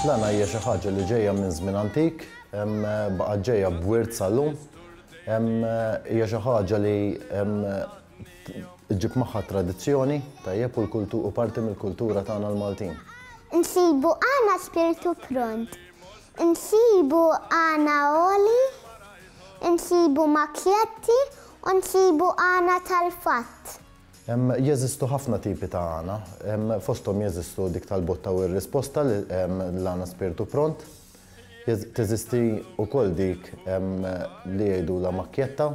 L-għana hija xi ħaġa li ġejja minn żmien antik, baqgħet ġejja b'wirt sal-lum. Hija xi ħaġa li ġib magħha tradizzjoni tajjeb u parti mill-kultura tagħna l-Maltin. Insibu għana spirtu pront. Insibu għana għoli. Insibu makjetti u nsibu għana tal-fatt. Jeżistu ħafna tipi ta' għana. Fosthom jeżistu dik tal-botta u r-risposta, l-għana spirtu pront. Teżisti wkoll dik li jgħidulha makjetta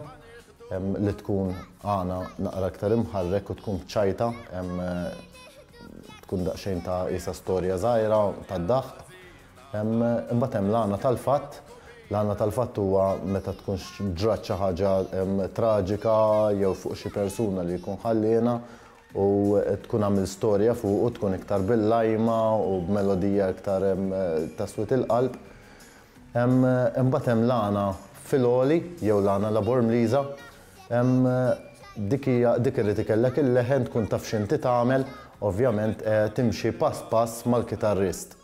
li tkun għana naqra iktar imħarrek u tkun b'ċajta, tkun daqsxejn ta' qisha storja żgħira tad-daħq. Imbagħad hemm l-għana tal-fatt. L-għana tal-fatt huwa meta tkun ġrat xi ħaġa traġika jew fuq xi persuna li jkun ħalliena u tkun għamilt storja fuq u tkun iktar bil-lajma u b'melodija iktar ta' swied il-qalb. Imbagħad hemm l-għana fil-għoli jew l-għana Labormliża. Dik hija dik irid ikellek il-leħen tkun taf x'inti tagħmel, ovvjament timxi pass pass mal-kitarrist.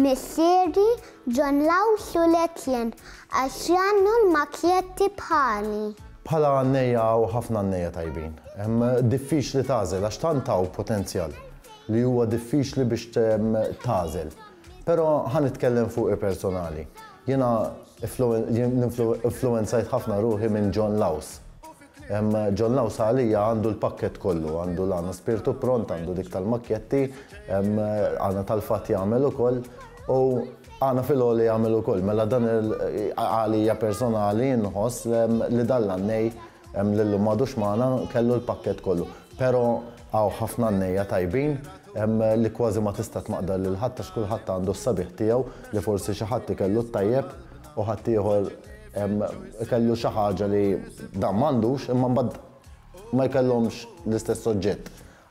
Missieri, John Law Sul Etienne, għax jgħannu l-makjetti bħali. Bħala għannejja hawn ħafna għannejja tajbin. Diffiċli tagħżel għax tant hawn potenzjal li huwa diffiċli biex tagħżel. Però ħa nitkellem fuqi personali. Jiena influwenzajt ħafna ruħi minn John Laws. John Law Salia għandu l-pakkett kollu, għandu l-għana spirtu pront, għandu dik tal-makketti, għana tal-fatt jagħmel ukoll, u għana fil-għoli jagħmel ukoll. Mela dan għalija personali nħoss li dan l-għannej li llum m'għadux magħna kellu l-pakkett kollu. Però hawn ħafna għannejja tajbin li kważi ma tista' tmaqdar lil ħadd għax kulħadd għandu s-sabiħ tiegħu li forsi xi ħadd ikellu t-tajjeb u ħaddieħor ikellu xi ħaġa li dan m'għandux imma mbagħad ma jkellhomx l-istess oġġett.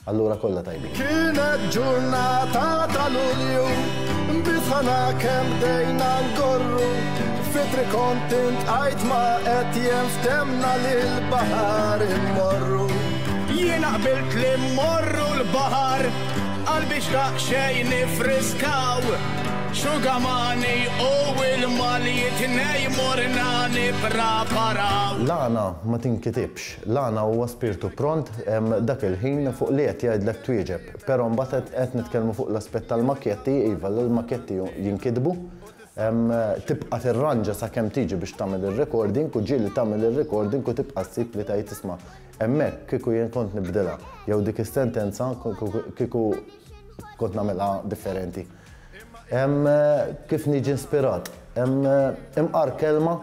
Allura kollha tajbin. Kienet ġurnata tal-Ulju, bisħana kemm dejna ngorru, fitri kont intqajt ma qed jenftemna lil baħar immorru. Jiena qbilt li mmorru l-baħar, qalbi xtaq xejn nifriskaw. Xugamani u ilma li t-tnejn morna nippraparaw. L-għana ma tinkitibx. L-għana huwa spirtu pront dak il-ħin fuq li qed jgħidlek twieġeb. Però mbagħad qed nitkellmu fuq l-aspett tal-makketti, iva l-makketti jinkitbu, tibqa' tirranġa sakemm tiġi biex tagħmel ir-recording u ġieli tagħmel ir-recording u tibqa' ssib li tgħid isma' hemmhekk kieku jien kont nibdilha jew dik is-sentenza kieku kont nagħmilha differenti. Hemm kif niġi inspirat. Hemm imqar kelma,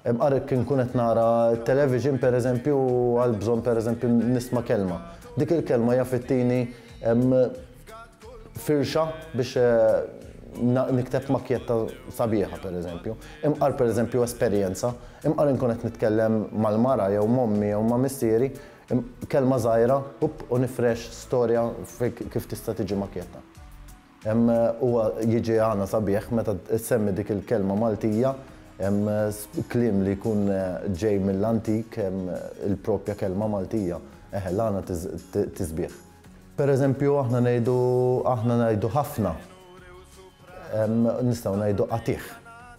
imqar kien nkun qed nara television pereżempju u għal bżonn pereżempju nisma' kelma. Dik il-kelma jaf ittini firxa biex nikteb makkjetta sabiħa pereżempju. Imqar pereżempju esperjenza, imqar inkun qed nitkellem mal-mara jew m'ommi jew ma' missieri, Kelma żgħira u nifrex storja kif tista' tiġi makjetta. Huwa jiġi għana sabiħ meta ssemmi dik il-kelma Maltija, kliem li jkun ġej mill-antik, il-proprja kelma Maltija. Eħe, l-għana tisbiħ. Per eżempju, aħna ngħidu, aħna ngħidu ħafna. Nistgħu ngħidu qatigħ.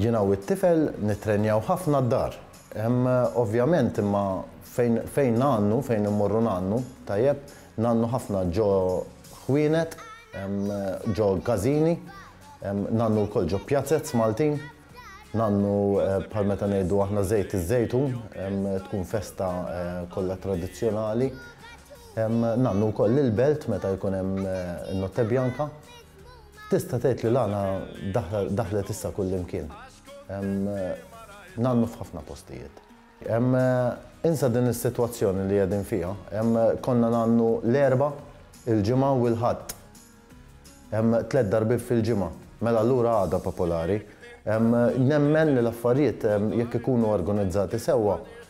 Jiena u t-tifel nittrenjaw ħafna d-dar. Hemm ovvjament imma fejn fejn ngħannu, fejn immorru ngħannu, tajjeb, ngħannu ħafna ġo ħwienet, ġo każini, ngħannu wkoll ġo pjazez Maltin, ngħannu bħal meta ngħidu aħna żejt iż-żejtun, tkun festa kollha tradizzjonali. Ngħannu wkoll lill-belt meta jkun hemm in-Notte Bianca. Tista' tgħid li l-għana daħlet issa kullimkien. Hemm nannu f'ħafna postijiet. Hemm insa din is-sitwazzjoni li qegħdin fiha, hemm konna nannu l-Erbgħa, il-Ġimgħa u l-Ħadd. Hemm tliet darbiet fil-ġimgħa. Mela allura għada popolari. Nemmen li l-affarijiet jekk ikunu organizzati sewwa